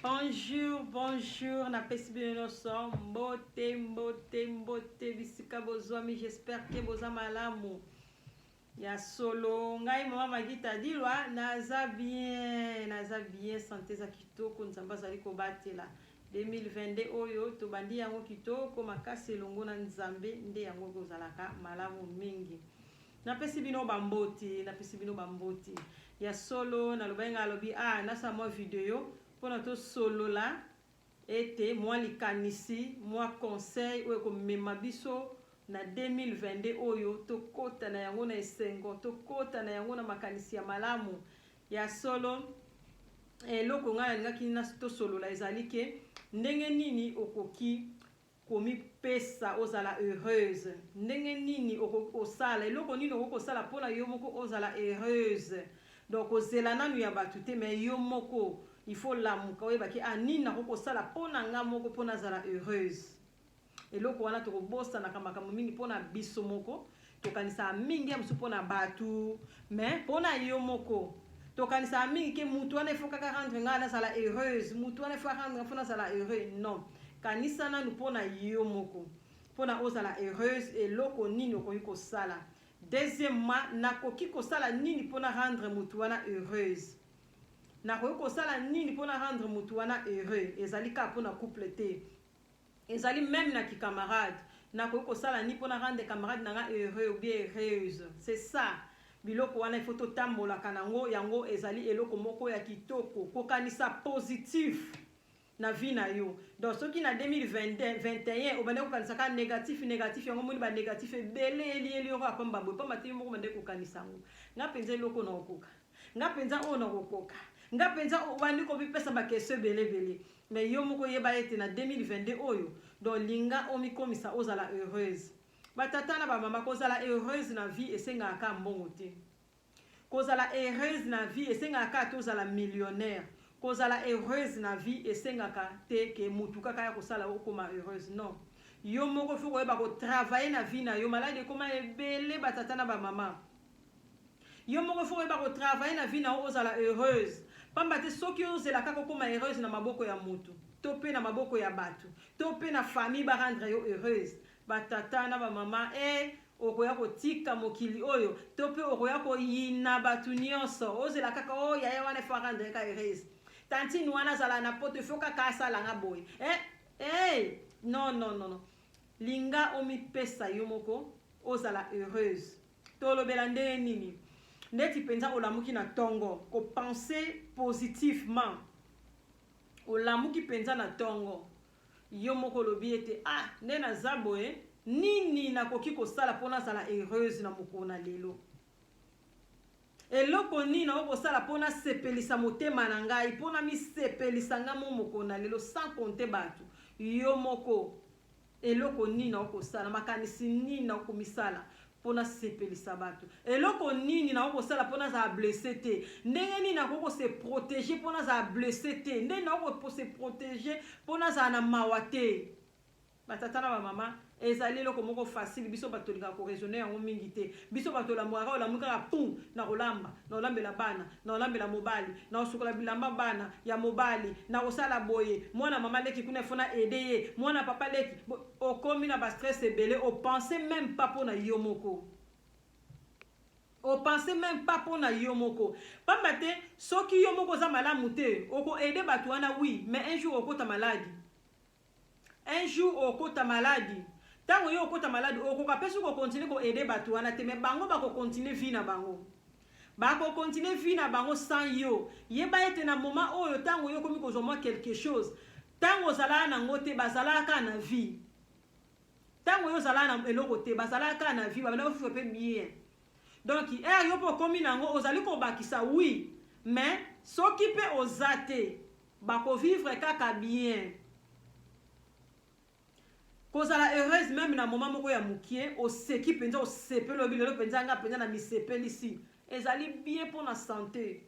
bonjour bonjour napesi bino nyonso mbote mbote mbote bisika bozwami j'espère ke boza malamu ya solo ngai mama magita dilwa naza bien naza bien sante eza kitoko nzambe azali kobatela 2022 oyo tobandi yango kitoko makasi elongo na nzambe nde yango ekozalaka malamu mingi Napesi bino bamboti, napesi bino bamboti. Ya solo, nalobaki ngai alobi, ah, nasala mwa video mpo na tosolola ete mwa likanisi, mwa conseil oyo ekomema biso na 2022 oyo tokota na yango na esengo, tokota na yango na makanisi ya malamu. Ya solo, eloko ngai nalingaki tosolola ezali ke ndenge nini okoki komipesa ozala heureuse ndenge nini okoki kosala eloko nini okoki kosala mpo na yo moko ozala heureuse donc kozela nanu ya bato te mais yo moko il faut lamuka oyeba ke ah nini nakoki kosala mpo na nga moko mpo nazala heureuse eloko wana tokobosanaka makambo mingi mpo na biso moko tokanisaka mingi ya mosusu mpo na bato me mpo na yo moko tokanisaka mingi ke motu wana efo kaka rendre ngai nazala heureuse motu wana efo arendre ngai mpo nazala heureux non kanisa nanu mpo na yo moko mpo na ozala heureuse eloko nini okoki kosala deuxièmement nakoki kosala nini mpo na rendre motu wana heureuse nakoki kosala nini mpo na rendre motu wana heureux ezali kaka mpo na couple te Ezali meme na ki camarade. Nakoki kosala ni pona rendre camarade na nga heureux ou bien heureuse. C'est ça. Biloko wana il faut totambolaka na ngo, yango ezali eloko moko ya kitoko. Kokanisa positif na vie na yo. Donc soki na 2021 obandaki kokanisa kaka negatif negatif, yango omoni ba negatif ebele elieli yo kaka pamba boye, pamba te yo moko obandaki kokanisa yango. Nga penza eloko nakokoka. nga penza oyo nakokoka nga penza obandi komipesa bakestion ebele ebele mais yo moko yeba ete na 2022 oyo donc linga omikomisa ozala heureuse batata na bamama kozala heureuse na vie esengaka kaka mbongo te kozala heureuse na vie esengaka kaka te ozala millionnaire kozala heureuse na vie esengaka te ke mutu kaka ya kosala okoma heureuse non yo moko fo koyeba kotravaille na vie na yo maladi ekoma ebele batata na bamama Yo moko il faut oyeba ko travailler na vie na yo ozala heureuse. Pamba te soki ozela kaka okoma heureuse na maboko ya mutu to pe na maboko ya batu to pe na famille ba rendre yo heureuse ba tata na ba mama eh okoya kotika mokili oyo to pe okoya koyina batu nionso ozela kaka oh yaya wana faut arendre ka heureuse tantine wana azala na poto faut kaka asala nga boye eh eh non non non non linga omipesa yo moko ozala heureuse Tolobela ndenge nini? Ndeti penza olamuki na tongo, ko penser positivement. Olamuki penza na tongo. Yo moko olobi ete ah nde naza boye nini nakoki kosala mpo nazala heureuse na mokolo na lelo. Eloko nini nakoki kosala mpo nasepelisa motema na ngai, mpo namisepelisa ngai mo mokolo na lelo sans compter bato. Yo moko Eloko nini nakoki kosala? Makanisi nini nakoki komisala mpo nasepelisa bato? Eloko nini nakoki kosala mpo nazala blesse te? Ndenge nini nakoki kose protege mpo nazala blesse te? Ndenge nakoki kose protege mpo nazala na mawa te? Batata na bamama, ezali eloko moko facile biso bato tolingaka koraisonne yango mingi te Biso bato tolamuaka olamuki kaka pum nakolamba nakolambela bana nakolambela mobali nakosukola bilamba bana ya mobali nakosala boye muana mama leki kuna il faut na aide ye muana papa leki bo okomi na ba stress ebele o pense meme pas pona yo moko o pense meme pas pona yo moko pamba te soki yo moko oza malamu te oko aide bato wana oui mais un jour okota maladi Un jour okota malade. Tango yo okota malade, okoka pe soki okontinue ko aider batu wana te, mais bango bako continuer vie na bango. Bako continuer vie na bango sans yo. Yeba ete na moment oyo tango yo okomi kozwa mwa quelque chose, tango ozalaka na ngo te, bazalaka kaka na vie. Tango yo ozalaka na eloko te, bazalaka kaka na vie, babanda kofuta pe bien. Donc, heure yo pe okomi na ngo, ozali kobakisa oui, mais soki pe oza te, Bako vivre kaka bien. Kozala heureuse meme na moment moko ya mukie, oseki penza, osepeli oyebi lelo penza nga penza na misepelisi. Ezali bien mpo na sante.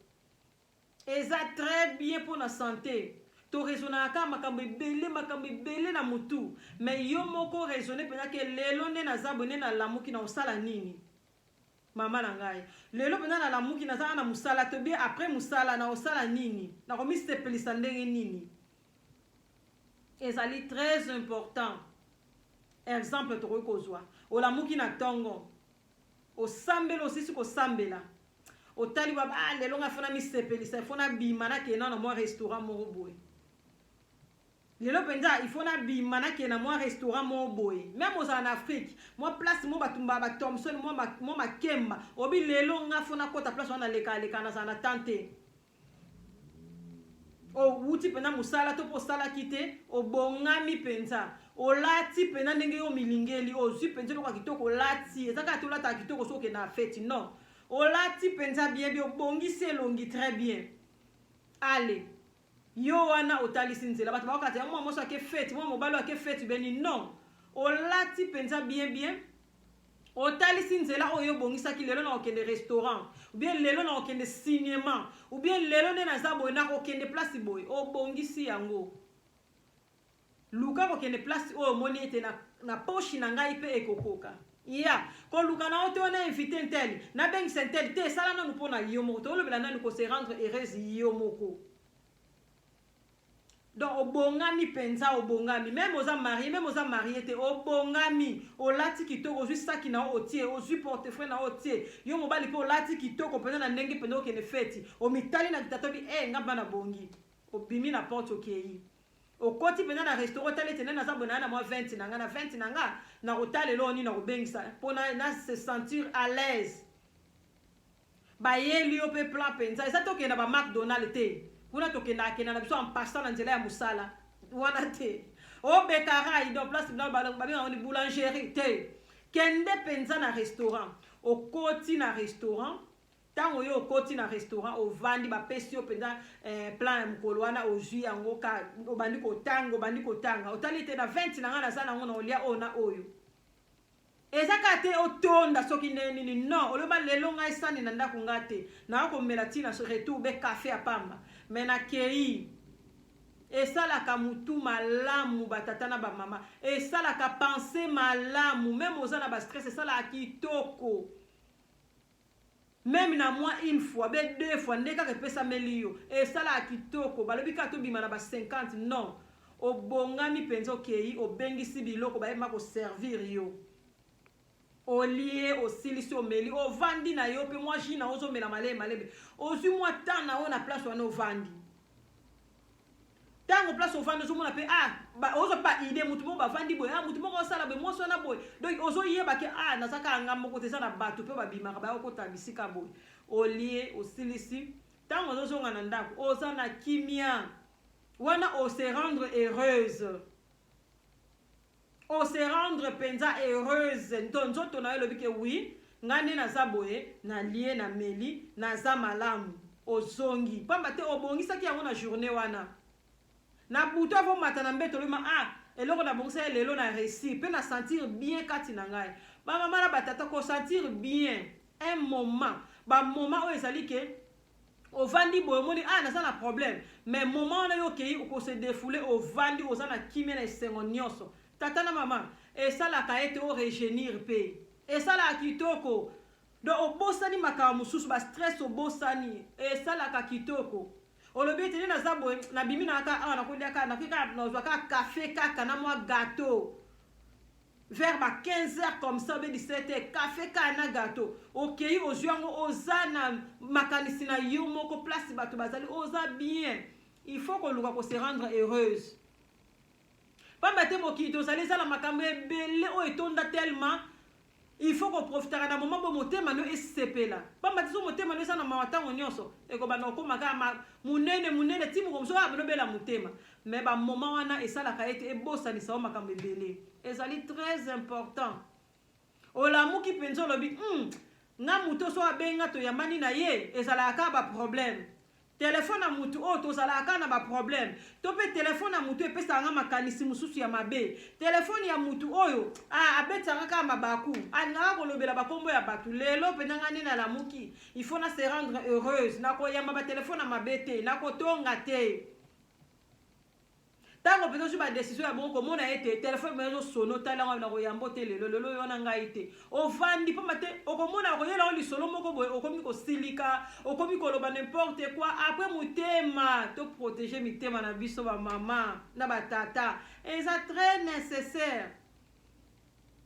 Eza très bien mpo na sante. toresonaka kaka makambo ebele makambo ebele na motu me yo moko resone mpenza ke lelo nde naza boye nde nalamuki na osala nini Mama na ngai lelo mpenza nalamuki nazanga na mosala to bie après mosala nakosala nini nakomisepelisa ndenge nini ezali très important exemple tokoki kozwa olamuki na ntongo osambeli osisi kosambela otali baba ah, lelo ngai fona misepelisa fona bima nakenda na mwa restaurant moko boye Lelo penza il faut na bima na kena mwa restaurant mo boye. Meme ozala na Afrique, mwa place mo batu mba ba Thompson mwa ma, mwa makemba. Obi lelo nga faut na kota place wana leka leka na za na temps te. O wuti penza musala to po sala kite, obongami penza. Olati penza ndenge yo milingeli, ozui penza loka kitoko olati. Eza kaka tolata kitoko soke na fete, non. Olati penza bien bien, obongisi elongi très bien. Allez. Yo wana otalisi nzela bato bakokata ya mwa moso ake feti mwa mobali ake feti beni non olati mpenza bien bien otalisi nzela oyo obongisaki lelo nakokende restaurant oubien lelo nakokende cinéma oubien lelo nde naza boye nakokende place boye obongisi yango Luka kokende place oyo omoni ete na, na poshi na ngai mpe ekokoka ya koluka na yo te wana invite nteli nabengisa nteli te esala nanu mpo na yo moko tolobela nanu ko se rendre heureuse yo moko donc obongami mpenza obongami meme oza marie meme oza marie te obongami olati kitoko ozwi saki na yo otie ozwi portefeuille na yo otie yo mobali mpe olati kitoko mpenza na ndenge mpenza okende feti omitali na kitatobi e eh, nga bana bongi obimi na porte okei Okoti pena na restaurant otala ete nani aza boye na na mwa 20 na nga na 20 na nga na kotalela oyo nini na kobengisa mpo na, na se sentir à l'aise bayeli yo mpe plan mpenza eza tokende na ba macdonald te kuna tokendaka kenda na biso en passant na nzela ya mosala wana te obekarai donc place babengaka yango ni boulangerie te kende mpenza na restaurant okoti na restaurant Tango yo okoti na restaurant ovandi bapesi yo mpenza eh, plan ya mokolo wana ozwi yango ka obandi kotanga obandi kotanga otali ete na 20 na ngai naza nango na olia oyo na oyo eza kaka te otonda soki ndenge nini non oloba lelo ngai sani na ndako ngai te nayo komela ntina retour be kafe ya pamba me nakei esalaka motu malamu batata na bamama esalaka pense malamu meme oza na bastress esalaka kitoko Meme na mwa une fois be deux fois nde kaka epesameli yo esalaka kitoko balobi kaka tobima na ba 50 non obongami penza okeyi obengisi biloko baye ma ko servir yo olie osilisi omeli ovandi na yo pe mwa jus na yo ozomela malebe malebe ozwi mwa temps na yo na place wana ovandi tango place ovandi ozomona mpe ah, ozwa mpe baide motu moko bavandi boye ah, motu moko osala boye mwasi wana boye donc ozoyeba ke ah, naza kaka nga moko te eza na bato mpe babimaka bayokota bisika boye olie osilisi ntango ozozonga na ndako oza na kimia wana ose rendre heureuse o se rendre penza heureuse nto nzoto na yo elobi ke oui ngai nde naza boye nalie na meli naza malamu ozongi pamba te obongisaki yango na journée wana na butu avo mata na mbeto olema ah eloko nabongisa ye lelo na réussir mpe na sentir bien kati na ngai bamama na batata kosentir bien un moment bamoma oyo ezali ke ovandi boye omoni ah naza na problème mais moment wana yo okei okose defoule ovandi oza na kimia na esengo nyonso tata na mama esalaka ete o regenir mpe esalaka kitoko donc obosani makambo mosusu bastress obosani esalaka kitoko olobi ete nde naza boye nabimi na kaka awa nakolia kaka nakoki kaka nazwa kaka kafe kaka na mwa gateau vers ba 15 heures comme ça obe 17 heures cafe kaka na gato okei ozwi yango oza na makanisi na yo moko place bato bazali oza bien il faut koluka ko se rendre heureuse pamba te mokili tozali eza na makambo ebele oyo etonda tellement il faut koprofitaka na moma mpo motema no esepela pamba te so motema no eza na mawa ntango nyonso ekobanda kokoma kaka monene monene ti mokomoso kaka banobela motema Mais ba moment wana esalaka ete ebosanisa yo makambo ebele. Ezali très important. Olamuki mpenza olobi, hmm, nga moto so abenga toyambani na ye ezalaka kaka ba problème. Telefone ya moto oyo tozalaka kaka na ba problème. To mpe telefone ya moto epesaka nga makanisi mosusu ya mabe. Telefone ya moto oyo ah, abetisaka kaka mabaku. Alingaka kolobela bakombo ya bato. Lelo mpenza nga nde nalamuki. Il faut na se rendre heureuse. Nakoyamba ba telefone ya mabe te. Nakotonga te. ntango mpenza ozwi badesizio ya bongo komona ete telefone mpenza ezosono tala ngai nakoyambo te lelo lelo oyo wana ngai te ovandi mpamba te okomona okoyela oyo lisolo moko boye okomi kosilika okomi koloba nimporte koi apres motema toprotege mitema na biso bamama na batata eza très nécessaire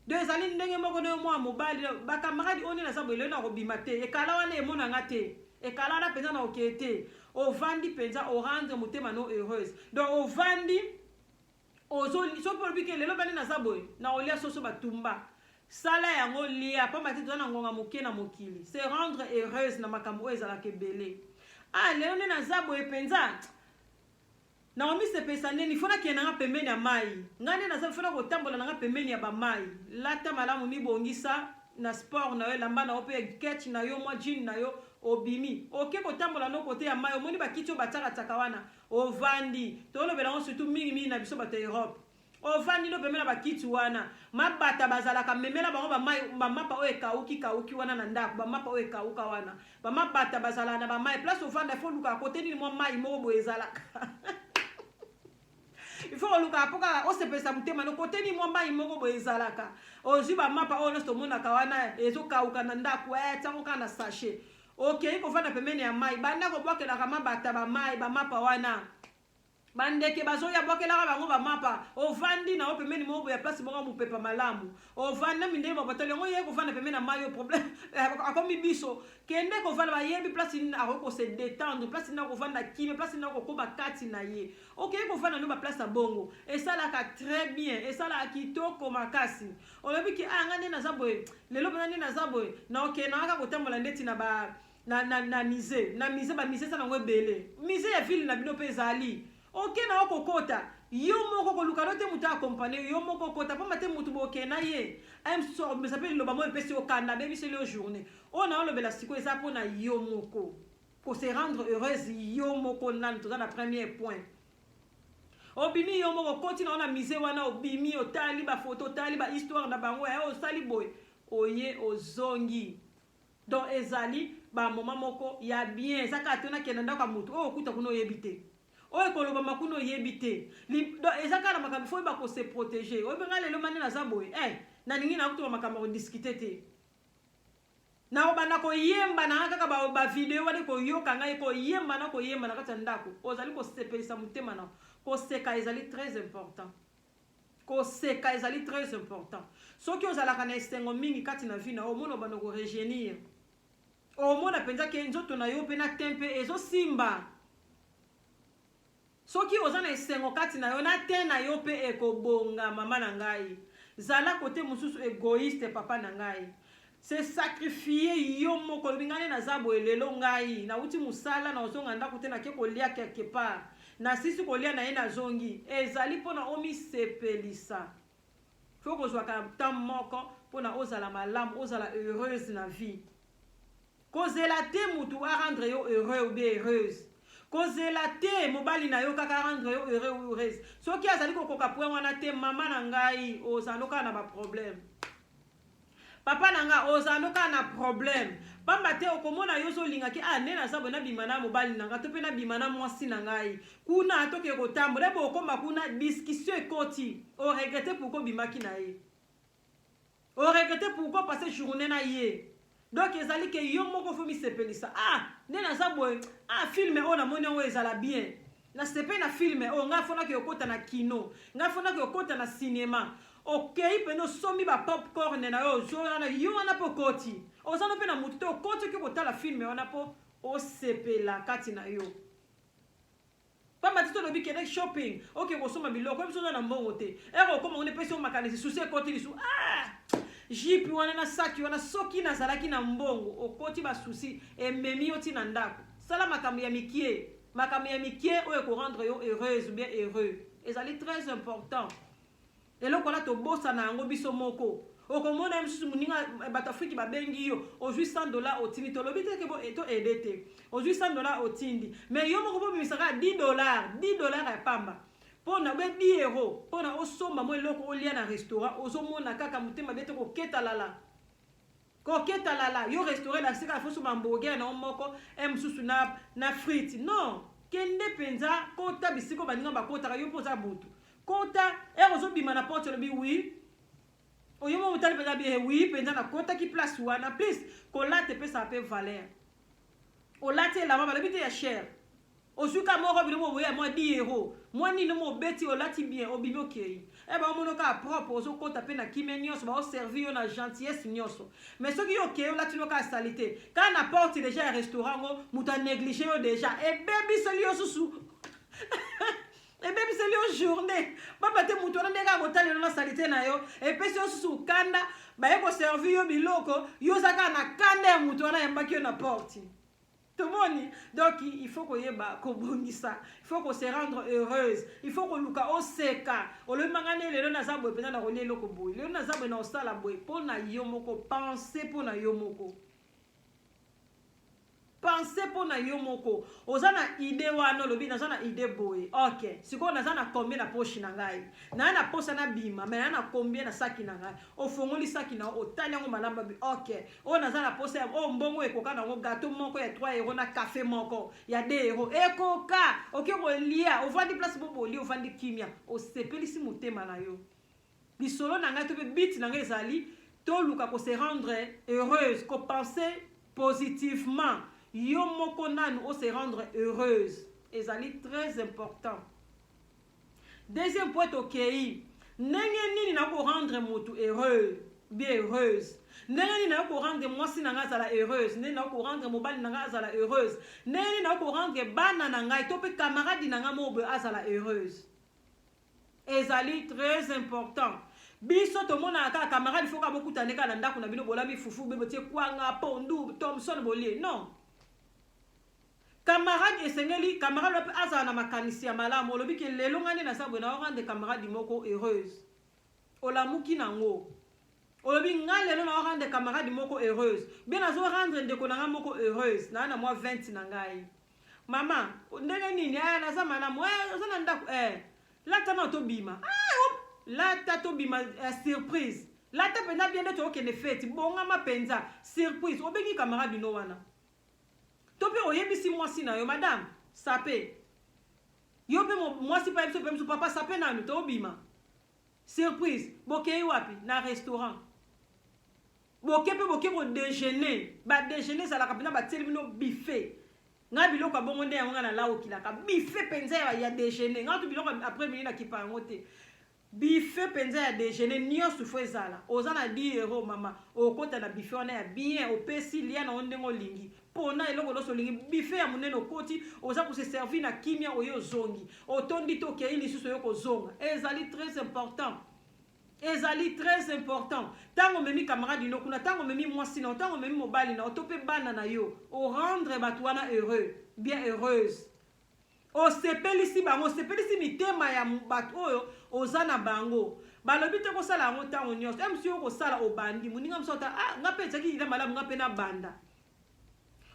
do ezali ndenge moko na yo mwana mobali bakamaradi oyo nde naza boye lelo nakobima te ekala wana emona nga te ekala wana mpenza na okeye te ovandi mpenza orendre motema no heureuse donc ovandi ozoli soki olobi ke lelo bani naza boye na olia soso batumba sala yango lia mpamba te toza na ngonga moke na mokili se rendre heureuse na makambo oyo ezalaka ebele ah lelo nde naza boye mpenza Nakomisepelisa nini? Il faut nakende na nga pembeni ya mayi. Nga nde naza, il faut nakotambola na nga pembeni ya ba mayi. Lata malamu, mibongisa na sport na yo, elamba na yo pe catch na yo, mwa jean na yo, obimi. Oke kotambola no cote ya mayi, omoni ba kiti oyo batiaka tiaka wana, ovandi. Tolobela yango surtout mingi mingi na biso bato ya Europe. ovandi no pemela bakiti wana mabata bazalaka memela bango bamapa oyo ekauki kauki wana na ndako bamapa oyo ekauka wana bamabata bazalaka na bamai place ovanda ifo olukaka kote nini mwa mai moko boye ezalaka ifo olukaka mpo kaka osepelisa motema no kote nini mwa mai moko boye ezalaka ozwi bamapa oyo nyonso omonaka wana ezokauka na ndako e tiango kaka na sachet okei kovanda pembeni ya mai banda kobwakelaka mabata bamai bamapa wana bandeke bazoya bwakelaka bango bamapa ovandi na yo pembeni moko boya place moko mopepa malamu ovanda mindele mabotoli yango ye kovanda pembeni na mai yo problème akomi biso kende kovanda bayebi place nini akoki kose détendre place nini akovanda kime place nini akokoba kati na ye okei kovanda no baplace ya bongo esalaka très bien esalaka kitoko makasi olobi ke aya ah, nga nde naza boye lelo mpena nde naza boye na okei na kaka kotambola ndeti na ba na, na, na musée na musée ba musée eza nango ebele musée ya ville na bino mpe ezali oke na yo kokota yo moko koluka no te moto akompane yo moko kota mpamba te moto boke na ye mesa mpe liloba moko epesi yo kanda abebiseli yo journée oyo na olobela sikoyo eza mpo na yo moko ko se rendre heureuse yo moko nani toza na premier point obimi yo moko okoti na yo na musée wana obimi otali bafoto otali bahistoire na bango yaye osali boye oye ozongi Donc ezali ba moment moko ya bien eza kaka te nakenda ndako ya moto oyo okuta kuna oyebi te oyo ekolobama kuna oyebi te donc eza kaka na makambo fo oyeba ko se protéger oyebi ngai lelo mani naza boye eh nalingi na kutuka makambo ya kodiscute te nakobanda koyemba na ngai kaka bavideo wana koyoka ngai koyemba na koyemba na kati ya ndako ozali kosepelisa motema na koseka ezali très important Koseka ezali très important. Soki ozalaka na esengo mingi kati na vie na yo, omona obanda ko rejeunir. Omona penza ke nzoto na yo pe na teint pe ezo simba. Soki oza na esengo kati na yo, na teint na yo pe ekobonga mama na ngai. Zala kote mosusu egoïste papa na ngai. se sacrifier yo moko olobi ngai nde naza boye lelo ngai nawuti mosala naozonga ndako te nake kolia quelque part nasilisi kolia na ye nazongi ezali mpona omisepelisa fo kozwaka temps moko mpona ozala malamu ozala heureuse na vie kozela te motu a rendre yo heureux ou bien heureuse kozela te mobali na yo kaka rendre yo heureux ou heureuse soki azali kokoka point wana te mama na ngai ozanokaa na baproblème Papa na nga ozalando kaka na problème pamba te okomona yo ozolinga ke ah nde naza boye nabima na mobali na nga to mpe nabima na mwasi na ngai kuna tokee kotambola ebe okoma kuna discussion ekoti oregrete pourkoi obimaki na ye oregrete pourkoi passe journée na ye donc ezali ke yo moko fo misepelisa ah nde naza boye ah filme oyo namoni yango ezala bien nasepe na filme oyo ngai afonaki okota na kino ngai afonaki okota na sinema okei mpena osombi ba popcorn na yo ozwi wana yo wana mpe okoti oza no mpe na motu te okoti oki kotala filme wana mpo osepela kati na yo Pamba te tolobi kende shopping, oke kosomba biloko, oyebi soki oza na mbongo te. Heure okoma kuna epesi yo makanisi, souci ekoti lisu. Ah! Jipi wana na saki wana soki nazalaki na mbongo, okoti ba souci ememi yo ti na ndako. Sala makambo ya mikie, makambo ya mikie oyo eko rendre yo heureuse ou bien heureux ezali très important. Eloko wana tobosana yango biso moko. Okomona ye mosusu moninga eh, bato Afriki babengi yo, ozwi 100 dola otindi. Tolobi te ke eh, to ede te, ozwi 100 dola otindi, me yo moko bobimisa kaka 10 dola, 10 dola ya pamba pona be 10 euro pona osomba mwa eloko olia na restaurant, ozomona kaka motema bete koketa lala. Koketa lala yo restaurant na sika fosu ba hamburger na moko e mususu na na frites non kende penza kota bisiko baninga bakotaka yo poza butu kota ero zobima na porte lobi oui oyo mo mutali penza bi oui penza na kota ki place wana please kolate pesa pe valeur olate elamba balobi te ya cher ozwi ka moko bino boboye ya mwa diero mwa nini mobeti olati bien obimi okei e baomono kaka propre ozokota mpe na kimia nyonso baoservi yo na gentillesse nyonso mais soki yo okei olatino kaka salite kaka na porte deja ya restaurant yango moto aneglige yo deja ebebiseli yo susu ebebiseli yo journée pamba te moto wana ndenge akotalelo na salite na yo epesi yo susu okanda baye koservi yo biloko yo oza kaka na kanda ya moto wana ayambaki yo na porte tomoni donc il faut koyeba kobongisa il faut ko se rendre heureuse il faut koluka oseka olobi manga nde lelo naza boye mpenza nakolia eloko boye lelo naza boye na osala boye mpo na yo moko pense mpo na yo moko pense mpo na yo moko oza na ide wana olobi naza na ide boye ok sikoyo naza na combien na poshi na ngai naye na posa na bima me naye na combien na saki na ngai ofongoli saki na otali yango malamu babi ok oyo naza na posa ya oyo mbongo ekoka nango gato moko ya 3 euro na cafe moko ya 2 euro ekoka oke kolia ovandi place bo bolia ovandi kimia osepelisi motema na yo lisolo na ngai to mpe bit na ngai ezali toluka ko se rendre heureuse ko penser positivement yo moko nanu o se rendre heureuse ezali très important Deuxième point tokeyi ndenge nini na ko rendre mutu heureux bien heureuse ndenge nini nayo korendre mwasi na ngai azala heureuse ndenge nayo korendre mobali na ngai azala heureuse ndenge nini nayo korendre bana na ngai to mpe kamaradi na ngai moko boye azala heureuse ezali très important biso tomonaka kaka kamaradi foka bokuta nde kaka na ndako na bino bolami fufu be botie kwanga pondu thomson bolie non Camarade esengeli camarade wana pe azala na makanisi ya malamu olobi ke lelo ngai nde naza boye nao rendre camarade moko heureuse olamuki nango olobi ngai lelo nao rendre camarade moko heureuse bien nazo rendre ndeko na ngai moko heureuse naa na mwa 20 na ngai mama ndenge nini eh, naza malamu eh, oza na ndako eh, lata nao tobima ah, op, lata tobima eh, surprise lata mpenza bien nde tookende feti bongama mpenza surprise obengi camarade no wana To pe oyebisi mwasi na yo madame sape. Yo pe mwasi pe ayebisi yo pe mosusu papa sape nanu tobima. Surprise, bokei wapi? Na restaurant. Boke pe boke ko dejeuner. Ba dejeuner ezalaka pena batieli bino buffet. Nga biloko ya bongo nde yango nga na laokilaka. Buffet penza ya, ya dejeuner. Nga to biloko après midi na kipa yango te. Buffet penza ya dejeuner nionso faut ezala. Oza na 10 euros mama, okota na buffet wana ya bien, opesi, lia na yo ndenge olingi. Pona eloko nionso olingi. Buffet ya munene okoti, oza ko se servir na kimia oye ozongi. Otondi te okeyi lisusu oye kozonga. Ezali très important. Ezali très important. Tango omemi camarade no kuna, tango omemi mwasi na yo, tango omemi mobali na yo to pe bana na yo, o rendre batu wana heureux, bien heureuse. Osepelisi bango, osepelisi mitema ya bato oyo oza na bango. Balobi te kosala yango ntango nyonso. Eme soki okosala obandi, moninga mosusu ata ah, nga mpe ezalaki ida malamu, nga mpe nabanda.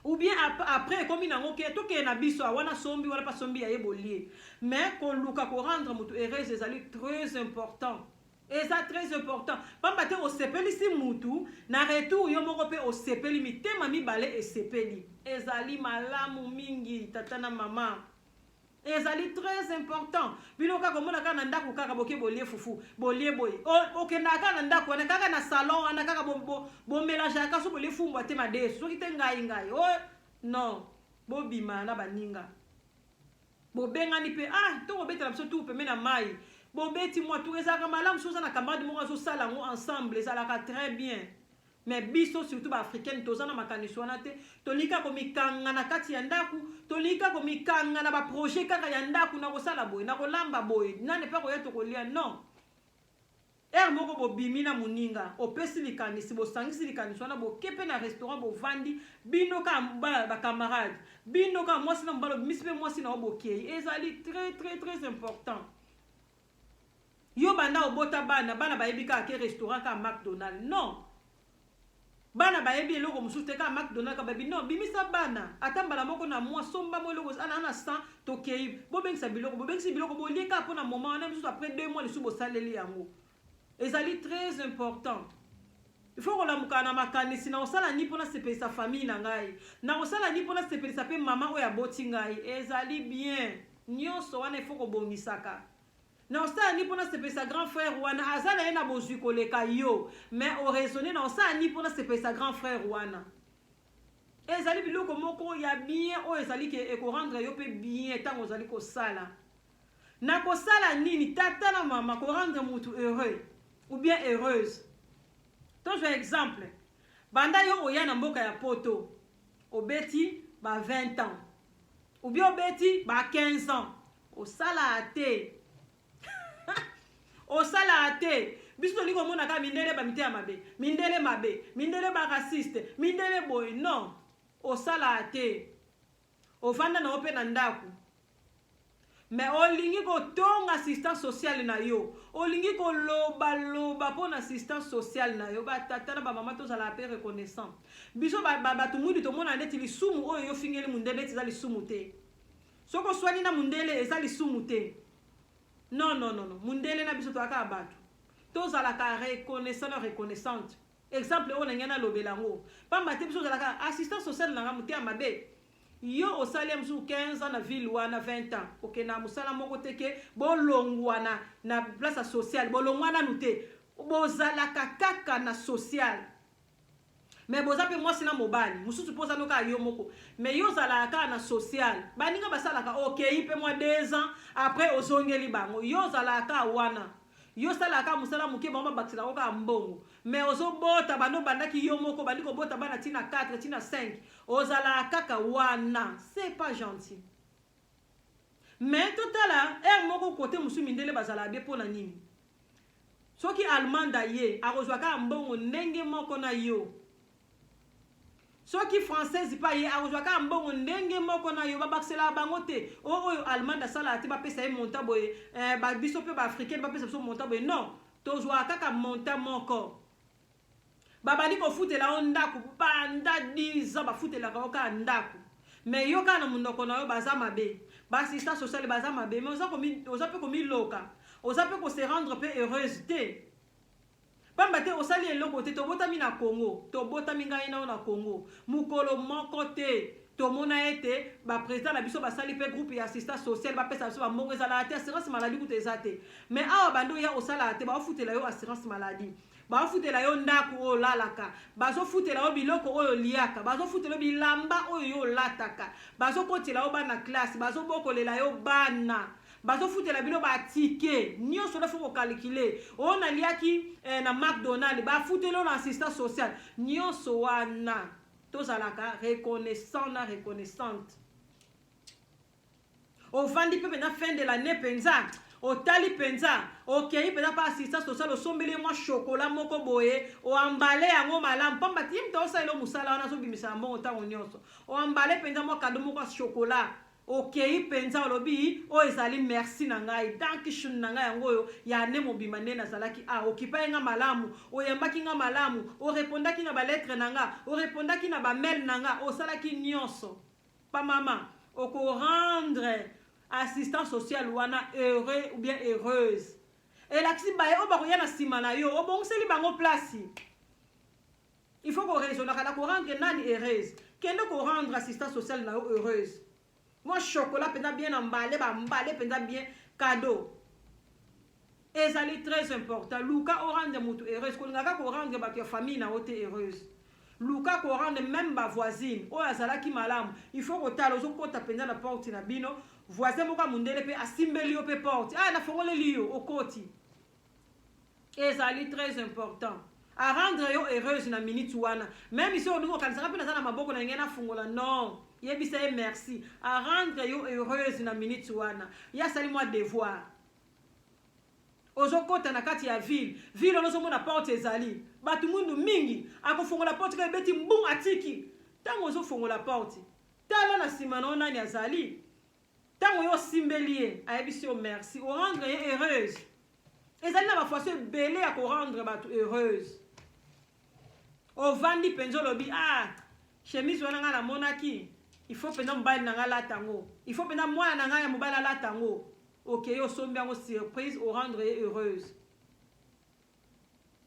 Ou bien après ekomi nango ke tokende na biso ah, wana sombi wana mpa sombi ya ye bolie. Mais koluka korendre moto heureuse ezali très important. Eza très important pamba te osepelisi mutu na retour yo moko pe osepeli mitema mibale esepeli ezali malamu mingi tata na mama ezali très important bino kaka komona kaka na ndako kaka boke bolie fufu bolie boye okendaka kaka na ndako wana kaka na salon wana kaka bomelangeaka bo, bo so bolie fumbwa te madesu soki te ngai ngai o oh, non bobima na baninga bobengani mpe ah to kobetela biso tour pembe na mai bobeti mwa tour ezalaka malamu soki oza na camarade moko azosala yango ensemble ezalaka très bien mais biso surtout baafricaine toza na makanisi wana te tolingi kaka komikanga na kati ya ndako tolingi kaka komikanga na baprojet kaka ya ndako na kosala boye na kolamba boye nani mpe akoya tokolia non Heure moko bobimi na muninga opesi likanisi bosangisi likanisi wana boke pe na restaurant bovandi bino ka ba camarade bino ka mwasi na mobali obimisi pe mwasi na yo bokei ezali très très très important yo banda obota bana bana bayebi kaka ke restaurant kaka macdonald non Bana bayebi eloko mosusu te kaka McDonald kaka bayebi non bimisa bana ata mbala moko na mwa somba mwa eloko ana na 100 tokei bobengisa biloko bobengisi biloko bolie kaka mpo na moment wana misusu après 2 mois lisusu bosaleli yango ezali très important il faut kolamuka na makanisi na kosala nini mpo nasepelisa famille na ngai na kosala nini mpo nasepelisa mpe mama oyo aboti ngai ezali bien nyonso wana il faut kobongisaka Na osala ni pona sepelisa grand frère wana aza na ye na bozwi koleka yo mais o raisonner na osala ni pona sepelisa grand frère wana ezali biloko moko ya bien oyo ezali ke ekorendre yo mpe bien ntango ozali kosala na kosala nini tata na mama korendre mutu heureux ou bien heureuse tozwa exemple banda yo oya na mboka ya poto obeti ba 20 ans ou bien obeti ba 15 ans osalaka te osalaka te biso tolingi komona kaka mindele bamiteya mabe mindele mabe mindele baraciste mindele boye non osalaka te ofanda na yo mpe na ndako Mais olingi ko tonga assistant social na yo. Olingi ko loba loba po na assistant social na yo. Ba tata na ba mama to zala pe reconnaissant. Biso ba, ba batu mwindu to mona neti lisumu oyo yo fingeli mundele neti za lisumu te. Soko swani na mundele eza lisumu te. Non non non non. Mundele na biso to aka batu. To zala ka reconnaissant na reconnaissante. Exemple oyo na ngena lobela ngo. Pamba te biso zala ka assistant social na nga mutea mabe. Yo osali ya mosusu 15 ans na ville wana 20 ans okende na mosala moko te ke bolongwana na place ya sociale bolongwa nanu te bozalaka kaka na sociale me boza mpe mwasi na mobali mosusu mpo ozano kaka yo moko me yo ozalaka kaka na sociale baninga basalaka okei mpe mwa 2 ans après ozongeli bango yo ozalaka kaka wana Yo salaka kaka musala muke bango babakisela yo kaka mbongo mais ozo bota banda obandaki yo moko obandi kobota bana ti na 4 ti na 5 ozalaka kaka wana c'est pas gentil mais totala heure moko kote mosusu mindele bazalaka bie mpo na nini soki allemande aye akozwa kaka mbongo ndenge moko na yo soki française pa ye akozwa kaka mbongo ndenge moko na yo babakisela bango te o oh, oyo allemand asalaka te bapesa ye monta boye eh, ba, biso mpe baafricaine bapesa biso monta boye non tozwaka kaka monta moko babandi kofutela yo ndako banda 10 ans bafutelaka yo kaka ndako me yo kaka na monoko na yo baza mabe baasistance sociale baza mabe me oza mpe komiloka oza mpe kose rendre mpe heureuse te Pamba te osali eloko te tobotami na Congo tobotami ngai na yo na Congo mokolo moko te tomona ete ba president na biso basali pe groupe ya assistant social bapesa biso bambongo ezalaka te assurance maladie kuta eza te mais awa bando ya osalaka te baofutela yo assurance maladie baofutela yo ndako oyo olalaka bazofutela yo biloko oyo oliaka bazofutela yo bilamba oyo yo olataka bazokotela yo bana classe bazobokolela yo bana bazofutela bino batike nyonso nde fo kokalikile oyo naliaki eh, na macdonald bafuteli oyo na assistance sociale nyonso wana tozalaka reconnaissant na reconnaissante ovandi mpe mpenza fin de l'année mpenza otali mpenza okei mpenza mpa assistance sociale osombeli ye mwa shokola moko boye oambale yango malamu mpamba ti moto aosalela mosala wana azobimisa na mbongo ntango nyonso oambale mpenza mwa kado moko ya shokola Okeyi mpenza olobi oyo ezali merci na ngai, Dankeschön na ngai yango oyo, ya annee mobimba nde nazalaki awa. Okipaki ngai malamu, oyambaki ngai malamu, o repondaki na ba lettres na nga, o repondaki na ba mails na nga, osalaki nionso. Pa mama, oko rendre assistant social wana heureux ou bien heureuse. Elakisi baye oyo bakoya na sima na yo, obongiseli bango place. Il faut ko raisonnaka na ko rendre nani heureuse. Kende ko rendre assistance sociale na yo heureuse. Moi chocolat penza bien na mbale ba mbale penza bien cadeau. Ezali très important. Luka o rendre mutu heureuse. Kolingaka ko rendre bato ya famille na yo te heureuse. luka korande meme bavoisine oyo azalaki malamu il faut kotala ozokota mpenza na porte na bino voisin moko ya mondele mpe asimbeli yo mpe porte aya ah, nafongoleli yo okoti Ezali très important. A rendre yo heureuse na minute wana. Meme si olingo kanisaka pe naza na maboko na ngena fungola non. Yebisa ye merci. A rendre yo heureuse na minute wana. Ya sali moi devoir. ozokota na kati ya ville ville wana ozomona porte ezali bato mwindu mingi akofongola porte kaka ebeti mbu atiki ntango ozofongola porte tala na nsima na yo nani azali Tango yo osimbeli ye, ayebisi yo merci, o rendre ye heureuse. Ezali na ba façon ebele ya ko rendre bato heureuse. Ovandi penza olobi ah chemise wana ngai namonaki il faut mpenza mobali na ngai alata yango il faut mpenza mwana na ngai ya mobali alata yango okei okay, osombi yango surprise orendre ye heureuse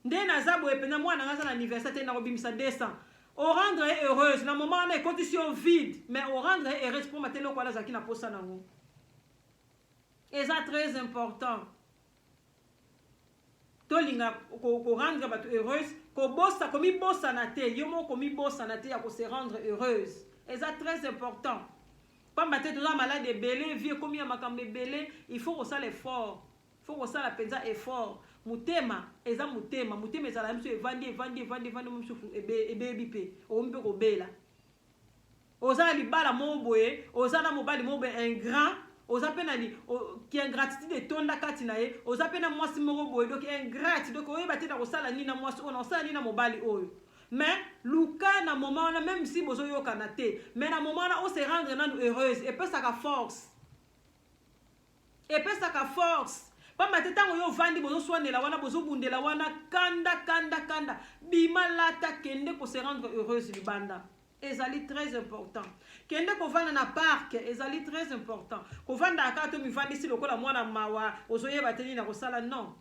Nde naza boye pena mwana nga aza na anniversaire te nako bimisa 200. O rendre ye heureuse na moment wana ekotisi yo vide mais o rendre ye heureuse poma te loko wana azalaki na posa nango. Eza très important. Tolinga ko, ko rendre bato heureuse, kobosa komibosana te, yo moko komibosana te ya ko se rendre heureuse. Eza très important. Pamba te toza malade ebele, vie ekomi ya makambo ebele, il faut kosala effort. Faut kosala penza effort. Motema eza motema. Motema ezalaka ye biso evandi, evandi, evandi, evandi mo biso ebebi pe. Okomi pe kobela. Oza na libala mo boye, oza na mobali mo boye ingrat, oza pe na ki ingratitude etonda kati na ye, oza pe na mwasi moko boye donc ingrat, donc oyeba te na kosala nini na mwasi oyo, na kosala nini na mobali oyo. Mais luka na moment wana même si bozo yokana te, mais na moment wana o se rendre nanu heureuse, epesaka force. Epesaka force pamba te tango yo vandi bozo swanela wana bozo bundela wana kanda kanda kanda bima lata kende ko se rendre heureuse libanda ezali très important kende kovanda na parc ezali très important kovandaka kaka to mivandisi lokola mwana mawa ozoyeba te nini nakosala non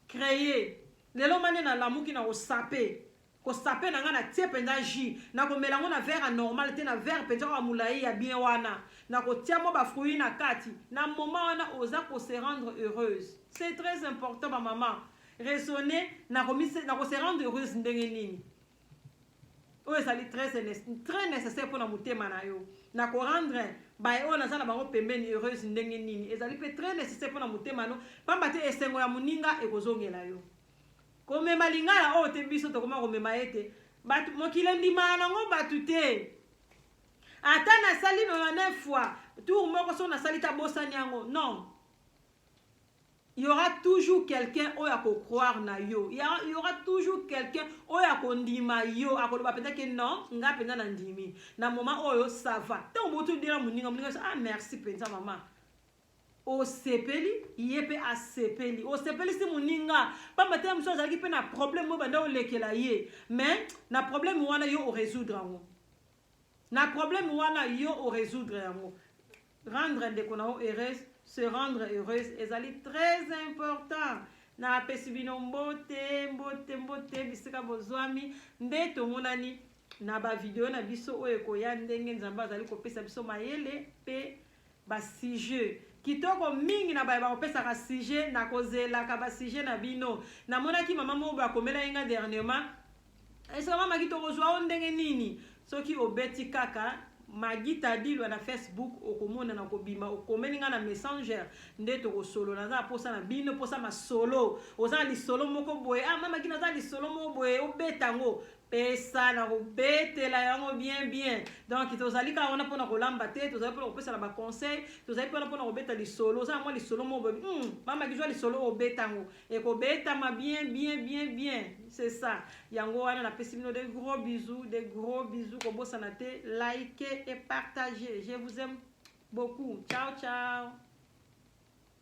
créer lelo mane nalamuki na kosape Ko sape na nga na tie penza jus na ko mela ngo na verre ya normal te na verre penza oyo ya mulayi ya bien wana na ko tia mwa ba fruits na kati na moment wana oza ko se rendre heureuse c'est très important ba maman raisonner na ko mise na ko se rendre heureuse ndenge nini oyo ezali très très nécessaire pona motema na yo na ko rendre baye oyo naza na bango pembeni heureuse ndenge nini ezali pe très nécessaire pona motema no pamba te esengo ya moninga ekozongela yo komema lingala oyo te biso tokoma komema ye te bato mokili endimaka nango bato te ata nasali 99 fois tour moko so nasali ta bosani yango non il y aura toujours quelqu'un oyo akocroire na yo il y aura toujours quelqu'un oyo akondima yo akoloba mpenza ke non ngai mpenza nandimi na moment oyo sava ntango botodela moninga moninga ah merci mpenza mama osepeli ye mpe asepeli osepelisi moninga mpamba te ya mosusu azalaki mpe na problème oyo banda olekela ye mais na problème wana yo oresoudre yango na problème wana yo oresoudre yango rendre ndeko na yo heureuse se rendre heureuse ezali très important napesi bino mbote mbote mbote bisika bozwami nde tomonani na bavideo na biso oyo ekoya ndenge nzambe azali kopesa biso mayele mpe Ba sujet kitoko mingi na baye bakopesaka sujet na kozelaka ba sujet na bino na monaki mama moko ba komela ye nga dernierement esika mama ki toko zwa o ndenge nini soki obeti kaka magi tadilwa na facebook okomona na kobima okomeli nga na messenger nde toko solo na za posa na bino posa masolo oza na lisolo moko boye ah mama ki na za lisolo moko boye obeta ngo pesa na kobetela yango bien bien donc tozali kaka wana mpona kolamba te tozali mpona kopesa na baconseil tozali mpona mpona kobeta lisolo oza na mwa lisolo moko boyebi mm, mama kizwa lisolo oyo obeta yango ekobetama bien bien bien bien c'est ça yango wana napesi bino de gros bisous de gros bisous kobosana te like et partage je vous aime beaucoup ciao ciao